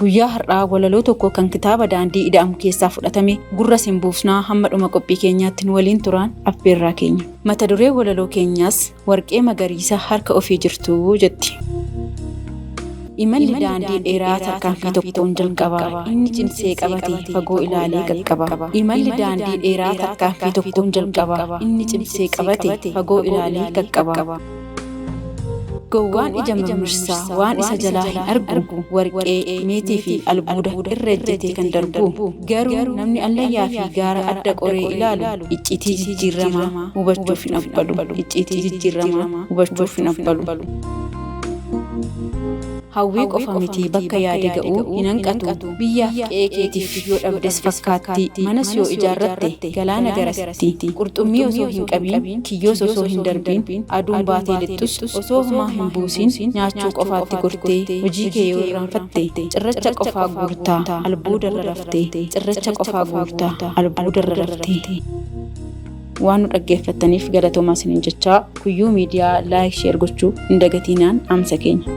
Guyyaa har'aa walaloo tokko kan kitaaba Daandii Ida'amu keessaa fudhatame gurra sin buufnaa hamma dhuma qophii keenyaatti nu waliin turaan affeerraa keenya. Mata duree walaloo keenyaas warqee magariisa harka ofii jirtuu jetti. Imalli daandii dheeraa tarkaanfii tokkoon jalqaba. Inni cimsee qabate fagoo ilaalee qaqqaba. Imalli daandii dheeraa tarkaanfii tokkoon jalqaba. Inni cimsee qabate fagoo ilaalee qaqqaba. Gowwaan ija mirmirsaa waan isa jalaa hin argu, warqee, meetii fi albuuda irra ejjetee kan darbu. Garuu namni allayyaa fi gaara adda qoree ilaalu icciitii jijjiirramaa hubachuuf hin abbalu, icciitii jijjiirramaa hubachuuf hin abbalu. Hawwii qofa miti bakka yaade ga'u hin hanqatu. Biyyaaf qe'ee keetiif yoo dhabdes fakkaatti, manas yoo ijaarratte galaana garasitti. Qurxummii osoo hin qabiin, kiyyoos osoo hin darbiin, aduun baatee lixxus osoo homaa hin buusiin nyaachuu qofaatti gortee hojii kee yoo irraanfatte cirracha qofaa guurta albuudarra rafte cirracha qofaa guurta albuudarra rafte. Waan nu dhaggeeffattaniif galatoomaa isiniin jechaa kuyyuu miidiyaa laayik sheer gochuu hin dagatiinaan dhaamsa keenya.